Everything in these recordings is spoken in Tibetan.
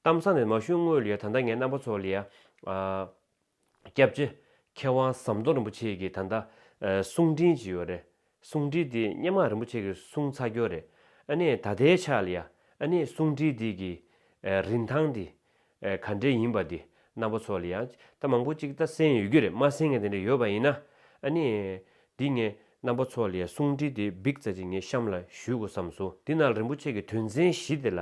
གཏམ་བཟང་དེ་མ་ཞུ་སྔོན་ལ་ཡ་ད་ལྟ་ངའི་རྣམ་པ་ཚོ་ལ་ཡ། སྐྱབས་རྗེ་མཁས་དབང་ཟམ་གདོང་རིན་པོ་ཆེ་གིས་ད་ལྟ། གསུང་འཕྲིན་ཅིག་ཡོད་རེད། གསུང་འཕྲིན་འདི་སྙན་མང་རིན་པོ་ཆེ་གིས་གསུང་ཚར་རྒྱུ་རེད། ཨ་ནེ་ད་ལྟའི་ཆ་ལ་ཡ། ཨ་ནེ་གསུང་འཕྲིན་འདི་གི། རིན་ཐང་འདི། ག་འདྲའི་ཡིན་པ་འདི་རྣམ་པ་ཚོ་ལ་ཡ། ད་མང་པོ་ཅིག་ད་གསན་ཡོད་རྒྱུ་རེད་མ་གསན་མཁན་དེ་འདྲ་ཡོད་པ་ཡིན་ན། ཨ་ནེ། འདི་ངས། རྣམ་པ་ཚོ་ལས་གསུང་འཕྲིན་དེ་འབིག་ཙ་ཅིག་ངས་གཤམ་ལ་ཞུས་དགོས་བསམ་སོང་འདི་ན་རིན་པོ་ཆེ་གི་དོན་ཚན་བཞི་དེ་ལ་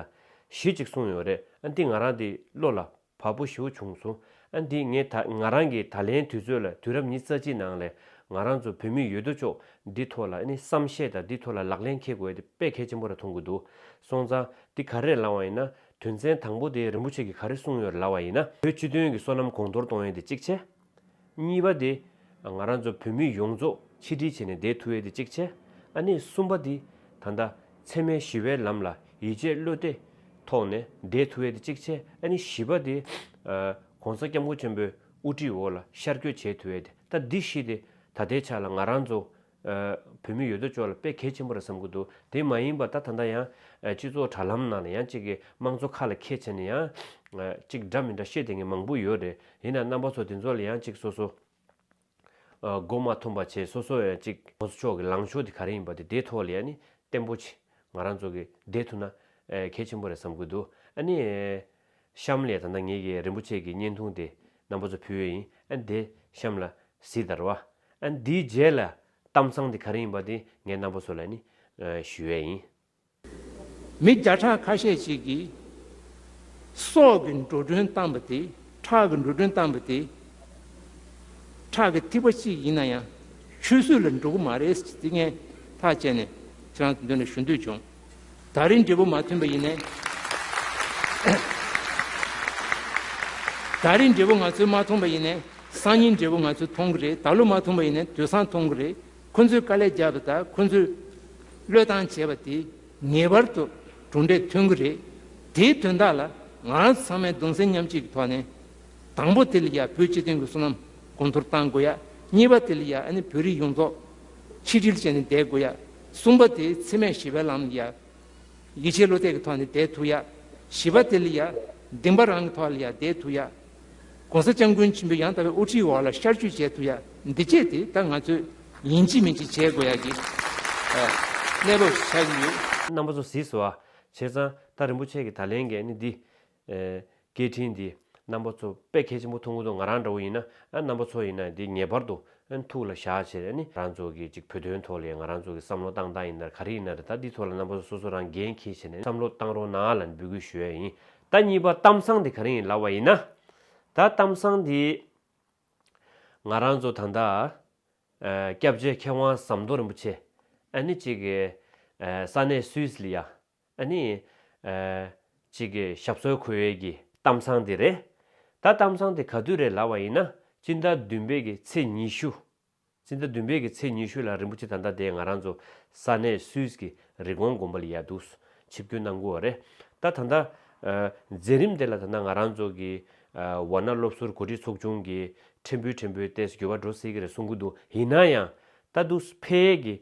གཞི་ཅིག་གསུང་ཡོད་རེད་ཨ་འདི་ང་རང་དེ་བློ་ལ་བབ་པོ་ཞིའོ་བྱུང་སོང་ཨ་འདི་ངས་ད་ང་རང་གི་ད་ལན་དུས་ཚོད་ལ་དུས་རབས་ཉིས་རྩ་གཅིག་ནང་ལས་ང་རང་ཚོ་བོད་མི་ཡོད་དོ་ཅོག་འདི་ཐོག་ལ་ནི་བསམ་ཤེས་དང་འདི་ཐོག་ལ་ལག་ལེན་འཁེལ་དགོས་དེ་དཔེ་གལ་ཆེན་པོ་ར་མཐོང་གི་འདུག་སོང་ཙང་འདི་ག་རེ་ལང་བ་ཡིན་ན་དོན་ཚན་དང་པོ་དེ་རིན་པོ་ཆེ་གི་ག་རེ་གསུང་ཡོད་ར་ལ་བ་ཡིན་ན་བོད་སྤྱི་དོན་གི་སོ་ནམ་གོང་མཐོར་གཏོང་ཡོད་དེ་གཅིག་བྱས། གཉིས་པ་དེ། ང་རང་ཚོ་བོད་མི་ཡོངས་རྫོགས་ཆིག་སྒྲིལ་བྱས་ནས་བསྡད་ཐུབ་ཡས་དེ་གཅིག་བྱས། ཨ་ནེ་གསུམ་པ་དེ། ད་ལྟ། འཚེ་མའི་ཞི་བའི་ལམ་ལ་ཡིད་ཆེས་བློས་གཏད། ཐོག་ནས་བསྡད་ཐུབ་ཡས་དེ་གཅིག་བྱས། ཨ་ནེ་བཞི་པ་དེ། ྋགོང་ས ྋསྐྱབས་མགོན་ཆེན་པོའི་དབུ་ཁྲིད་འོག་ལ་ཤར་བསྐྱོད་བྱས་ཐུབ་ཡས་དེ། ད་འདི་བཞི་དེ། ད་ལྟའི་ཆ་ལ་ང་རང་ཚོ་བོད་མི་ཡོད་དོ་ཅོག་ལ་དཔེ་གལ་ཆེན་པོ་རེད་བསམ་གྱི་འདུག་དེ་མ་ཡིན་པ་ད་ད་ལྟ་ཡང། སྤྱི་ཚོགས་དྲ་ལམ་ནང་ལ་ཡང་གཅིག་གི་དམངས་གཙོ་ཁ་ལ་ཁད་བྱས་ནས་ཡང། གཅིག་འདྲ་མི་འདྲ་བཤད་དེ་ངས་མང་པོ་ཡོད་རེད་ཡིན་ནའང་རྣམ་པ་ཚོ་དེ་ཚོ་ལ་ཡང་གཅིག་སོ་སོ། མགོ་མ་འཐོམ་པ་བྱས་སོ་སོ་ཡང་གཅིག་དམངས་གཙོ་ཕྱོགས་ཀྱི་ལངས་ཕྱོགས་དེ་ག་རེ་ཡིན་པ་དེ་དེའི་ཐོག་ལ་ཡང་ནི་བརྟན་པོ་ཆེ་ང་རང་ཚོ་གི་བསྡད་ཐུབ་ན་གལ་ཆེན་པོ་རེད་བསམ་གྱི་འདུག་ཨ་ནི། བཤམས་ལས་ད་ལྟ་ངེད་ཀྱིས་རིན་པོ་ཆེ་གི་བརྙན་ཐུང་དེ་རྣམ་པ་ཚོ་ཕུལ་བས་ཡིན་ཨ་འདི་བཤམས་ལ་གཟིགས་དར་བ། ཨ་འདིའི་རྗེས་ལ་གཏམ་ཚང་དེ་ག་རེ་ཡིན་པ་དེ་ངས་རྣམ་པ་ཚོ་ལ་ནི་ཞུ་བས་ཡིན། མི་བརྒྱ་ཕྲག་ཁ་ཤས་ཤིག་གིས་སྲོག་གི་འགྲོ་གྲོན་བཏང་པ་དེ་ཁྲག་གི་འགྲོ་གྲོན་བཏང་པ་དེ་ཁྲག་གི་ཐིགས་པ་གཅིག་ཡིན་ན་ཡང་ཆུད་ཟོས་ལ་འགྲོ་གི་མ་རེད་ཟེར་གྱི་དེ་ངས་ཐག་བཅད་ནས་ཁྱེད་རང་ཚོའི་མདུན་ལ་ཞུ་འདོད་བྱུང། ད་རིང་འབྲས་བུ་མ་ཐོན་པ་ཡིན་ནས། ད་རིང་འབྲས་བུ་ང་ཚོས་མ་མཐོང་པ་ཡིན་ནས། སང་ཉིན་འབྲས་བུ་ང་ཚོས་མཐོང་གི་རེད་ད་ལོ་མ་མཐོང་པ་ཡིན་ནས་དུས་སང་མཐོང་གི་རེད། ཁོ་ཚོས་དཀའ་ལས་རྒྱབ་པ་དང་ཁོ་ཚོས་བློས་བཏང་བྱས་པ་དེས་ངེས་པར་དུ་གྲུབ་འབྲས་ཐོན་གི་རེད། དེའི་དོན་དག་ལ་ང་རང་ཚོ་ཚང་མས་གདུང་སེམས་མཉམ་སྐྱེད་ཀྱི་ཐོག་ནས། དང་པོ་དེ་ལ་ཡང་བོད་སྤྱི་དོན་གྱི་བསོད་ནམས་གོང་མཐོར་གཏང་དགོས་ཡ། གཉིས་པ་དེ་ལ་ཡང་ཨ་ནི་བོད་རིགས་ཡོངས་རྫོགས་ཆིག་སྒྲིལ་བྱས་ནས་བསྡད་དགོས་ཡ། གསུམ་པ་དེ་ཚེ་མས་ཞི་བའི་ལམ་ཡ། ཡིད་ཆེས་བློ་གཏད་ཀྱི་ཐོག་ནས་དེ་ཐུག་ཡ། བཞི་པ་དེ་ལ་ཡ། འདིང་བ་རང་གི་ཐོག་ལ་ཡ་དེ་ཐུག་ཡ། གོང་ས་སྐྱབས་མགོན་ཆེན་པོའི་ཡང་དག་པའི་དབུ་ཁྲིད་འོག་ལ་ཤར་བསྐྱོད་བྱས་ཐུག་ཡ། འདི་བཅས་དེ་ལྟར་ང་ཚོས་ཡིན་གཅིག་མིན་གཅིག་བྱེད་དགོས་ཡ་གི། གནས་བབ་བྱ་གི་ཡོད། རྣམ་པ་ཚོ་གཟིགས་སོ། བྱས་ཙང། ད་རིན་པོ་ཆེ་གི་ད་ལན་འགན་ནི་འདི། སྐད་འཕྲིན་འདི་རྣམ་པ་ཚོ་དཔེ་ཁས་ཆེན་པོ་ཐུང་ངུ་དང་ང་རང་འདྲ་བོ་ཡིན་ན་རྣམ་པ་ཚོ་ཡིན་ན་འདི་ངེས་པར་དུ་ཐུགས་ལ་བཞག་ཕྱིར་རང་ཚོ་གི་ཅིག་བོད་དོན་ཐོག་ལས་ང་རང་ཚོ་གི་བསམ་བློ་བཏང་ད་ཡིན་ན་ག་རེ་ཡིན་ན་རེད་ད་འདི་ཐོག་ལ་རྣམ་པ་ཚོ་སོ་སོ་རང་འགན་འཁྱེར་ཕྱིར་ནས་བསམ་བློ་བཏང་རོགས་གནང་ལ་འབུལ་དགོས་ཞུ་ཡ་ཡིན་ད་གཉིས་པ་གཏམ་བཟང་འདི་ག་རེ་ཡིན་ལབ་བ་ཡིན་ན་ད་གཏམ་བཟང་འདི་ང་རང་ཚོ་ད་ལྟ་སྐྱབས་རྗེ་མཁས་དབང་ཟམ་གདོང་རིན་པོ་ཆེ་ཨ་ནི་ཅིག་ས་གནས་སུའི་སི་ལི་ཡ་ཨ་ནི། གཅིག་གི་ཞབས་སོར་ཁུར་ཡོད་ཀྱི་གཏམ་བཟང་དེ་རེད། ད་གཏམ་བཟང་དེ་ག་དུས་རེད་ལབ་བ་ཡིན་ན་སྤྱི་ཟླ་བདུན་པའི་གི་ཚེས་ཉི་ཤུ། སྤྱི་ཟླ་བདུན་པའི་གི་ཚེས་ཉི་ཤུ་ལ་རིན་པོ་ཆེ་ད་ལྟ་དེ་ང་རང་ཚོ་ས་གནས་སུད་ཀྱི་རི་གོང་དགོན་པ་ལ་ཡལ་འདུག་ཆིབས་བསྐྱོད་གནང་དགོས་བ་རེད། ད་ད་ལྟ། མཛད་རིམ་དེ་ལ་ད་ལྟ་ང་རང་ཚོ་གི་བ་ན་སློབ་ཟུར་གོ་སྒྲིག་ཚོགས་ཆུང་གི་ཕྲན་བུའི་ཕྲན་བུའི་ལྟས་སུ་འགྱུར་བ་འགྲོ་སྲིད་ཀྱི་རེད་གསུང་གི་འདུག་ཡིན་ན་ཡང། ད་དུས་ཕལ་ཡས་ཀྱི།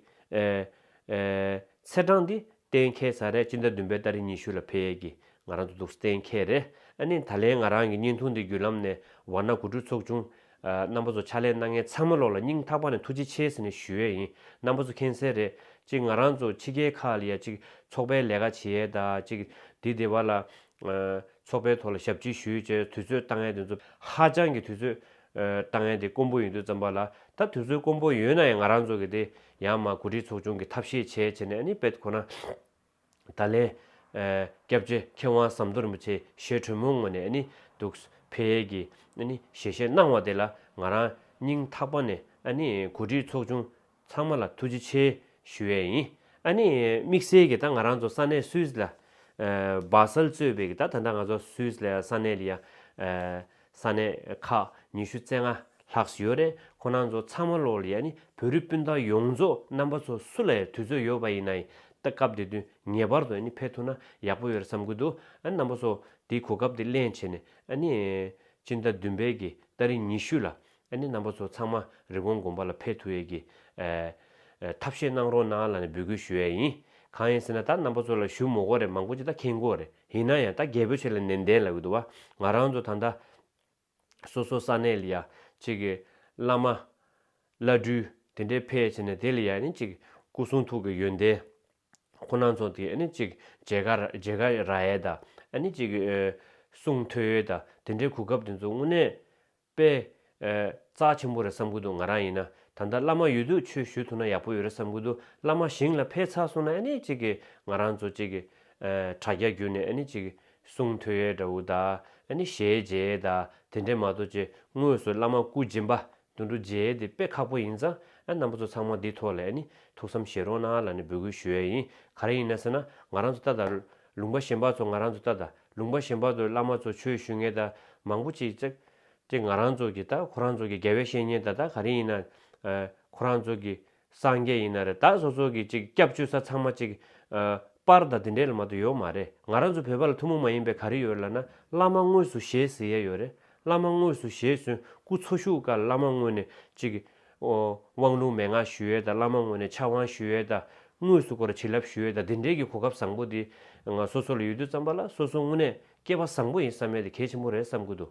ཚེས་གྲངས་འདི་གཏན་འཁེལ་ས་རེད་སྤྱི་ཟླ་བདུན་པའི་ཟླ་རེ་ཉི་ཤུ་ལ་ཕེབས་ཡས་ཀྱི་ང་རང་ཚོ་འདུག་ས་གཏན་འཁེལ་རེད་ཨ་ནི་ད་ལན་ང་རང་གི་བརྙན་ཐུང་འདི་བརྒྱུད་ལམ་ནས་བར་ན་གོ་སྒྲུབ་ཚོགས་ཆུང་རྣམ་པ་ཚོ་ཕྱག་ལས་གནང་མཁན་ཚང་མ་ལོག་ལ་སྙིང་ཐག་པ་ནས་ཐུགས་རྗེ་ཆེ་ཟེར་ནས་ཞུ་ཡས་ཡིན་རྣམ་པ་ཚོ་མཁྱེན་གསལ་རེད་ཅིག་ང་རང་ཚོ་ཕྱི་རྒྱལ་ཁག་ལ་ཡ་ཅིག་ཚོགས་པའི་ལས་ཀ་བྱེད་ཡས་དང་ཅིག་འདི་དེ་བ་ལ་ཚོགས་པའི་ཐོག་ལ་ཞབས་ཕྱི་ཞུ་ཡས་ཅེས་དུས་ཚོད་བཏང་ཡས་དེ་ཚོ་ཧ་ཅང་གི་དུས་ཚོད་བཏང་ཡས་དེ་དཀོན་པོ་ཡིན་དུས་ཙམ་པ་ལ་ད་དུས་ཚོད་དཀོན་པོ་ཡོད་ན་ཡང་ང་རང་ཚོ་གི་དེ་ཡང་མ་གོ་སྒྲིག་ཚོགས་ཆུང་གི་ཐབས་ཤེས་བྱས་བྱས་ནས་པད་ཁོ་ན། ད་ལན། སྐྱབས་རྗེ་མཁས་དབང་ཟམ་གདོང་རིན་པོ་ཆེའི་ཞལ་དྲོན་མོ་ངོ་ནས་འདུག་ཕེ་ཡེ་གི་ཞལ་བཞེས་གནང་བ་དེ་ལ་ང་རང་སྙིང་ཐག་པ་ནས་གོ་སྒྲིག་ཚོགས་ཆུང་ཚང་མ་ལ་ཐུགས་རྗེ་ཆེ་ཞུ་ཡས་ཡིན། དམིགས་བསལ་གྱི་ད་ང་རང་ཚོ་ས་གནས་སུད་སི་ལ་སྦ་གསལ་གཙོས་པའི་གི་ད་ད་ལྟ་ང་ཚོ་སུད་སི་ལ་ས་གནས་ལ་ཡ། ས་གནས་ཁག་ཉི་ཤུ་རྩེ་ལྔ་ལྷག་སུ་ཡོད་རེད་ཁོ་ནང་ཚོ་ཚང་མ་ལོག་ལ་ཡ་ནི་བོད་རིགས་སྤུན་ཟླ་ཡོངས་རྫོགས་རྣམ་པ་ཚོ་སུ་ལ་ཡ་དུས་ཚོད་ཡོད་པ་ཡིན་ན་ཡིན་ད་སྐབས་དེ་དུས་ངེས་པར་དུ་ཡ་ནི་ཕེབས་ཐུབ་ན་ཡག་པོ་ཡོད་རེད་བསམ་གི་འདུག་ཨ་རྣམ་པ་ཚོ་དེའི་གོ་སྐབས་དེ་གླེང་བྱས་ནས་ཨ་ནི་སྤྱི་ཟླ་བདུན་པའི་གི་ལྟར་རིང་ཉི་ཤུ་ལ་ཨ་ནེ་རྣམ་པ་ཚོ་ཚང་མ་རི་བོང་དགོན་པ་ལ་ཕེབས་ཐུབ་ཡས་ཀྱི། ཐབས་ཤེས་གནང་རོགས་གནང་ལ་ནས་འབུལ་སྐུལ་ཞུ་ཡས་ཡིན། གང་ཡིན་ཟེར་ན་ད་རྣམ་པ་ཚོ་ལ་ཞུ་མོ་གོ་རེ་མང་པོ་ཅི་ད་ཁེན་གོ་རེ་ཡིན་ན་ཡང་ད་རྒྱལ་པོ་ཆེ་ལ་ནན་ཏན་ལ་འུ་ཐུ་བ་ང་རང་ཚོ་ད་ད། སོ་སོ་ས་ནས་ལ་ཡ་ཅིག་གི་བླ་མ། བླ་སྤྲུལ་དེ་འདྲས་ཕེ་ཆེ་ནས་དེ་ལ་ཡ་ནི་ཅིག་སྐུ་གསུང་ཐུགས་ཀྱི་ཡོན་ཏན། ཁོ་ནང་ཚོ་དེ་ཨ་ནི་ཅིག་རྗེ་ཁ་རྗེ་ཁ་ར་ཡས་ད་ཨ་ནི་ཅིག་གསུང་ཐོས་ཡས་ད་དེ་འདྲས་གུ་སྐབས་དེ་ཚོ་དངོས་གནས། པས། རྩ་ཆེན་པོ་རེད་བསམ་གི་འདུག་ང་རང་ཡིན་ན་ད་ལྟ་བླ་མ་ཡོད་དུས་ཆོས་ཞུས་ཐུབ་ན་ཡག་པོ་ཡོད་རེད་བསམ་གི་འདུག་བླ་མ་བཞེངས་ལ་ཕེ་ཚ་གསུངས་ན་ཨེ་ནི་ཅིག་གི་ང་རང་ཚོ་ཅིག་གི། དྲ་རྒྱ་བརྒྱུད་ནས་ཨེ་ནི་ཅིག་གི་གསུང་ཐོས་ཡས་འདྲ་བོ་དག་ཨེ་ནི་ཞལ་མཇལ་ཡས་དག་དེ་འདྲས་མ་གཏོགས་ཅི་དངོས་སུ་བླ་མ་སྐུ་སྦྱིན་པ་དུ་འགྲོ་མཇལ་ཡས་དེ་དཔེ་ཁག་པོ་ཡིན་ཙང་རྣམ་པ་ཚོ་ཚང་མ་འདི་ཐོག་ལ་ཨེ་ནི་ཐུགས་བསམ་བཞེས་རོགས་གནང་ལ་ནི་འབོད་སྐུལ་ཞུ་ཡས་ཡིན་ག་རེ་ཡིན་ན་ཟེར་ན་ང་རང་ཚོ་ལྟ་དང། ལུང་པ་གཞན་པ་ཚོ་ང་རང་ཚོ་ལྟ་དང། ལུང་པ་གཞན་པ་ཚོར་བླ་མ་ཚོ་ཆོས་ཞུས་ངེས་ད་མང་པོ་ཅིག་ཅིག་ཅིག་ང་རང་ཚོ་གི་ད་ཁོ་རང་ཚོ་གི་རྒྱལ་བའི་བཤེས་གཉེན་ད་ད་ག་རིང་ཡིན་ན་ཁོ་རང་ཚོ་གི་སངས་རྒྱས་ཡིན་ན་རེད་ད་སོ་སོ་གི་ཅིག་སྐྱབས་བཅོལ་ས་ཚང་མ་ཅིག་པར་ད་དེ་འདྲའི་ལ་མ་ད་ཡོད་མ་རེད་ང་རང་ཚོ་བོད་པ་ལ་ཐུ་མོ་མ་ཡིན་པའི་ག་རེ་ཡོད་ལ་ན་བླ་མ་དངོས་སུ་ཞེས་ཟེར་ཡས་ཡོད་རེད་བླ་མ་དངོས་སུ་ཞེས་སོན་སྐུ་འཚོ་བཞུགས་སྐར་བླ་མ་དངོས་ནས་ཅིག་དབང་ལུང་མན་ངག་ཞུ་འོས་དང་བླ་མ་ངོས་ནས་ཕྱག་དབང་ཞུ་འོས་དང་དངོས་སུ་སྐོར་བ་བྱིན་རླབས་ཞུ་འོས་དང་འདི་འདྲའི་གི་གོ་སྐབས་བཟང་པོ་འདི་ང་སོ་སོ་ལ་ཡོད་དུས་བརྩམས་པ་ལ་སོ་སོ་དངོས་གནས་སྐལ་བ་བཟང་པོ་ཡིན་བསམ་ཡས་དེ་གལ་ཆེན་པོ་རེད་བསམ་གི་འདུག་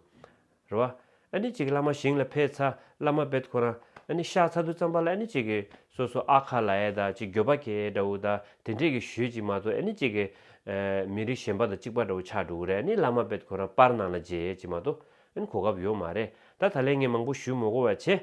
རེད་བ། ཨ་ནི་ཅིག་བླ་མ་ཞིང་ལ་ཕེབས་ཚ་བླ་མ་བེད་ཁོ་རང་ཨ་ནི་བཤགས་ཚ་དུས་བརྩམས་པ་ལ་ཨ་ནི་ཅིག་གི་སོ་སོ་ཨ་ཁ་ལ་ཡས་དང་ཅིག་འགྱོད་པ་གེ་འདྲ་བོ་དང་དེ་འདྲས་གི་ཞུས་ཅིག་མ་གཏོགས་ཨ་ནི་ཅིག་གི། མི་རིགས་གཞན་པ་དང་གཅིག་པ་འདྲ་བོ་ཆགས་འགྲོ་གི་རེད་ཨ་ནི་བླ་མ་བེད་ཁོ་རང་པར་ནང་ལ་མཇལ་ཡས་ཅིག་མ་གཏོགས་ཨེན་གོ་སྐབས་ཡོད་མ་རེད་ད་ད་ལན་ངས་མང་པོ་ཞུས་མོ་གོ་བ་ཆེ།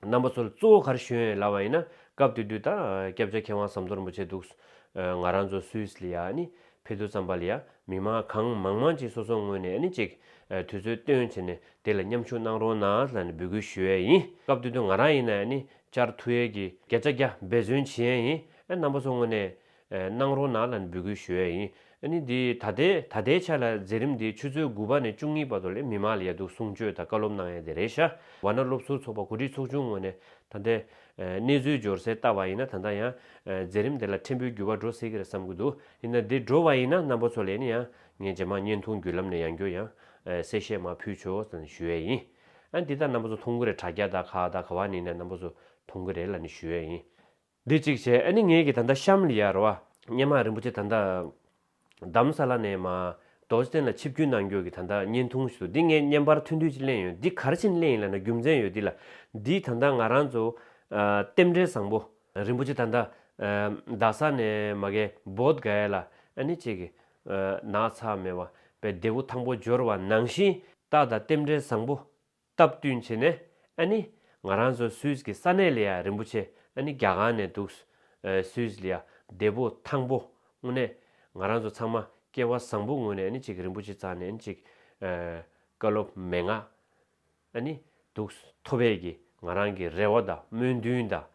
རྣམ་པ་ཚོ་ལ་གཙོ་བོ་གར་ཞོན་ལབ་བ་ཡིན་ན་སྐབས་དེ་དུས་ད་སྐྱབས་རྗ་མཁས་དབང་ཟམ་གཏོར་རིན་པོ་ཆེ་འདུག་ང་རང་ཚོ་སུད་ལ་ཡ་ནི་ཕེ་ཐུ་ཙམ་པ་ལ་ཡ་མི་མང་གང་མང་མང་གཅིག་སོ་སོ་ངོས་ནས་ཨ་ནི་ཅིག་དུས་ཚོད་བཏོན་བྱས་ནས་དེ་ལ་མཉམ་ཞུགས་གནང་རོགས་གནང་ལ་ནི་འབུལ་སྐུལ་ཞུ་ཡས་ཡིན་སྐབས་དེ་དུས་ང་རང་ཡིན་ན་ཨ་ནི་ཅར་ཐུ་ཡས་ཀྱི་རྒྱ་ཅ་རྒྱ་འབད་བརྩོན་བྱེད་ཡས་ཡིན་ཨ་རྣམ་པ་ཚོ་ངོས་ནས་གནང་རོགས་གནང་ལ་འབུལ་དགོས་ཞུ་ཡས་ཡིན་ཨ་ནི་འདི་ད་ལྟའི་ད་ལྟའི་ཆ་ལ་མཛད་རིམ་འདི་ཆུ་ཚོད་དགུ་པ་ནས་བཅུ་གཉིས་པ་དོ་ལེ་མི་མང་ལ་ཡ་དུག་གསུང་ཆོས་དང་བཀའ་སློབ་གནང་ཡས་དེ་རེད་ཤ་བ་ན་སློབ་ཟུར་ཚོགས་པ་གོ་སྒྲིག་ཚོགས་ཆུང་ངོས་ནས་ད་ལྟའི་གནས་ཚུལ་འབྱོར་གསལ་བལྟ་བ་ཡིན་ན་ད་ལྟ་ཡང་མཛད་རིམ་དེ་ལ་ཕྲན་བུའི་འགྱུར་བ་འགྲོ་སྲིད་གི་རེད་བསམ་གི་འདུག་ཡིན་ན་འདི་འགྲོ་བ་ཡིན་ན་རྣམ་པ་ཚོ་ལས་ནི་ཡང་ངས་ཇེ་མང་བརྙན་ཐུང་བརྒྱུད་ལམ་ནས་ཡང་བསྐྱོད་ཡང་གསལ་བཤད་མ་ཕུལ་ཆོས་ད་ནི་ཞུ་ཡས་ཡིན་ཨ་འདི་ད་རྣམ་པ་ཚོ་མཐོང་གི་རེད་དྲ་རྒྱ་ད་ག་ད་ག་བ་ནི་ནས་རྣམ་པ་ཚོ་མཐོང་གི་རེད་ལ་ནི་ཞུ་ཡས་ཡིན། འདི་གཅིག་བྱས་ཨ་ནི་ངེད་ཀྱི་ད་ལྟ་ཤམ་ལ་ཡར་བ། སྙེ་མ་རིན་པོ་ཆེ་ད་ལྟ་འདམ་ས་ལ་ནས་མ། རྡོ་རྗེ་སེམས་ལ་ཆིབས་བསྒྱུར་གནང་རྒྱུ་གི་ད་ལྟ་བརྙན་ཐུང་ཞིག་ཏུ་འདི་ངས་བརྙན་པར་ཐོན་དུས་ཅིག་གླེང་ཡོད་འདི་གར་ཕྱིན་གླེང་ཡིན་ལ་ན་རྒྱུ་མཚན་ཡོད་འདི་ལ། འདི་ད་ལྟ་ང་རང་ཚོ། རྟེན་འབྲེལ་བཟང་པོ། རིན་པོ་ཆེ་ད་ལྟ། རྡ་ས་ནས་མ་གས་བོད་དགའ་ཡས་ལ་ཨ་ནི་ཅིག་གི། ནགས་ཚགས་མེ་བ་པའི་འདེ་བོ་ཐང་པོ་འབྱོར་བ་ནང་བཞིན། རྟགས་དང་རྟེན་འབྲེལ་བཟང་པོ། སྟབས་བསྟུན་བྱས་ནས་ཨ་ནི་ང་རང་ཚོ་སུད་ཀྱི་ས་གནས་ལ་ཡང་རིན་པོ་ཆེ་ཨ་ནི་རྒྱ་གང་ནས་འདུག་སུད་ལ་ཡང་འདས་པོ་དང་པོ་དངོས་གནས་ང་རང་ཚོ་ཚང་མ་སྐལ་བ་བཟང་པོ་ངོས་ནས་ཨ་ནི་ཅིག་རིན་པོ་ཆེ་ཚང་ནས་ཨ་ནི་ཅིག་བཀའ་སློབ་མན་ངག་ཨ་ནི་འདུག་མཐོ་བས་ཀྱི་ང་རང་གི་རེ་བ་དང་སྨོན་འདུན་དང